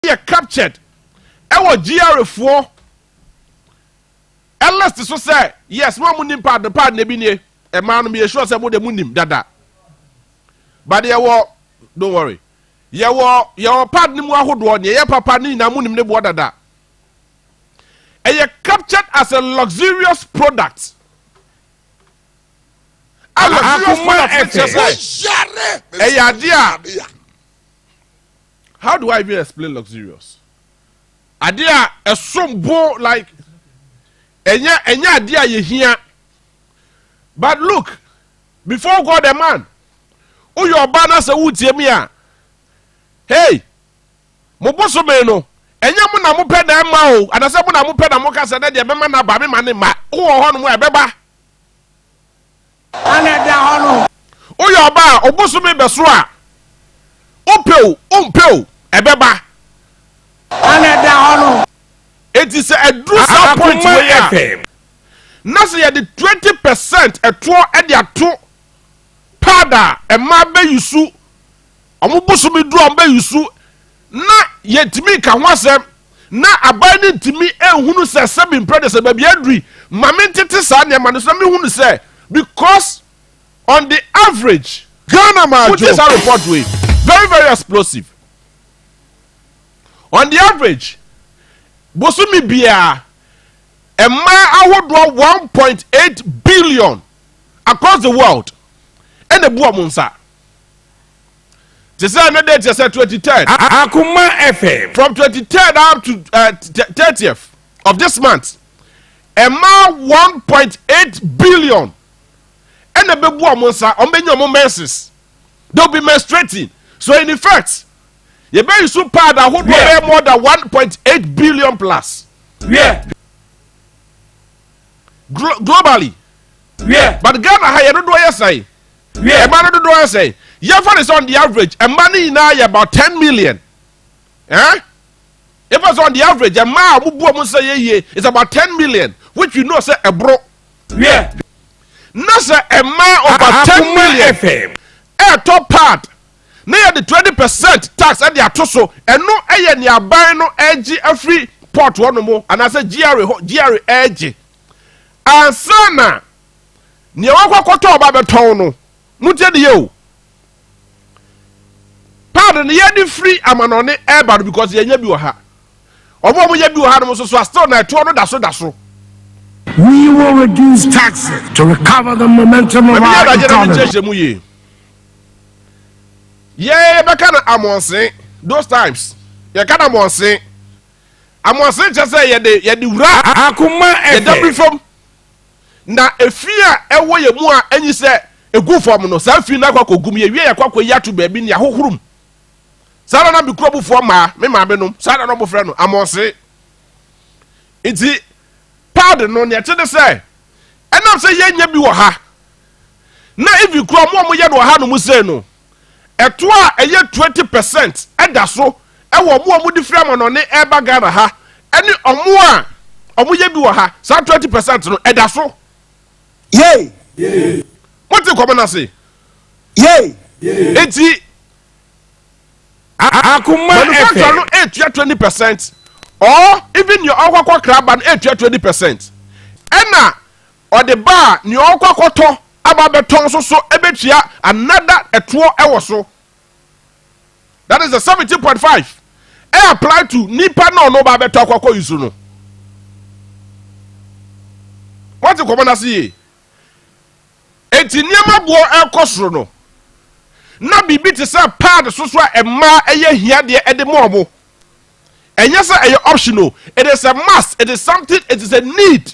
yɛ captured ɛwɔ GRA foɔ ɛlist so sɛ yes mo a mo nim paad no paad no ebi nie ɛmaa no meyɛ sure sɛ mo de mo nim dada but yɛwɔ don't worry yɛwɔ yɛwɔ paad no mu ahodoɔ nea ɛyɛ papa ne nyinaa mo nim ne boɔ dada ɛyɛ captured as a luxurious product a luxurious product ɛkyɛ sɛ ɛyɛ adeɛ a. How do I even explain luxurious? Ade a ɛsom bo like ɛnyɛ ɛnyɛ ade a yɛhia. But look, before God and man, woyɛ ɔbaa na sɛ wotie me a, hey, mo bosome no, ɛnyɛ mo na mopɛ na ɛma o, anasɛ mo na mopɛ na moka sɛ dɛ deɛ mɛma no aba me ma ne mma. Wowɔ hɔnom a ɛbɛba. Hwan na ɛda hɔ no? Woyɛ ɔbaa a ɔbosome bɛso a, wopɛ o, wompɛ o, ɛbɛba. Hwan na ɛda hɔ no? Enti sɛ aduru saa point wei a, na sɛ yɛde twenty percent ɛtoɔ de ato pad a mmaa bɛyusu, wɔn bosome duru a wɔbɛyusu, Ná yentumi nka ho asɛm. Ná aban no ntumi nhunu sɛ sɛ mempira deɛ sɛ baabi aduri ma mentete saa nneɛma no so. Ná mehunu sɛ because on the average, Ghana ma adwo. Wotie saa report wei? Very very explosive. On the average, bosome biara, mmaa ahodoɔ 1.8 billion across the world ɛna ebu wɔn nsa. Te sɛ ɛno de kyerɛ sɛ twenty third. Akoma FM. From twenty third up to uh, thirtieth uh, of this month ɛma one point eight billion ɛna ɛbɛbu wɔn nsa wɔn bɛnya wɔn menses they will be menstruating so in effect yɛbɛyi so pad ahodoɔ bɛyɛ more than one point eight billion plus. Yeah. Glo globally. Wiɛ. But Ghana ha yɛ dodoɔ yɛ sɛn? Wiɛ. Ɛma no dodoɔ yɛ sɛn? Yɛfa ne sɛ on the average ɛma no nyinaa yɛ about ten million. Eh? Yɛfa sɛ on the average ɛma a wɔbu wɔn sɛ yɛ yie is about ten million which we know sɛ ɛboro. Wiɛ. Na sɛ ɛma over ten million ɛɛtɔ part na yɛde twenty percent tax de ato so. Ɛno yɛ nea aban no regye afiri port hɔnom anaasɛ GRA hɔ GRA regye ansa na nea wakɔ akɔtɔ ɔba bɛtɔn no. Motie ne yɛ o. Paano no yɛde firi amanɔne ɛreba no because yɛnyɛ bi wɔ ha. Wɔn a wɔyɛ bi wɔ hanom nso so a still na ɛtoɔ no da so da so. We will reduce taxes to recover the momentum of our economy. yɛbɛka no amɔnsen those times yɛka no amɔnsen amɔnsen kyɛ sɛ yɛde yɛde wura akoma yɛdabiri fam na efi a ɛwɔ yɛ mu a enyi sɛ egu fam no saa fi no akɔ akɔgum yɛ wie yɛkɔ akɔ yi ato baabi ne ahohorom saa na na me kuro bufoɔ maa me maame nom saa na na wɔfrɛ no amɔnsen nti paadi no nea ɛte ne sɛ ɛnam sɛ yɛnyɛ bi wɔ ha. na even koraa ɔmo a ɔmo yɛ no wɔ ha nom sei no, ɛtoɔ a ɛyɛ twenty percent ɛda so ɛwɔ ɔmo a ɔmo de firi amanɔne ɛɛba Ghana ha ɛne ɔmo a ɔmo yɛ bi wɔ ha, saa twenty percent no ɛda so. Yei! Mo te nkɔmɔ no ase? Yei! Eti, Akoma ɛfɛ. Manufacturer no ɛɛtua twenty percent or even nea ɔɔkɔ akɔ kra aba no ɛɛtua twenty percent ɛna Ɔde ba a, nea ɔrekɔ akɔtɔ aba abɛtɔn nso so bɛtua another ɛtoɔ wɔ so. That is the seventeen point five ɛ apply to nipa na ɔno ba abɛtɔ akɔ akɔ use no. Wɔte nkɔmɔ n'ase yie. Eti nneɛma boɔ ɛrekɔ soro no, na biribi te sɛ pad so so a mmaa ɛyɛ hia deɛ ɛde ma wɔn. Ɛnyɛ sɛ ɛyɛ optional, it is a must, it is something, it is a need.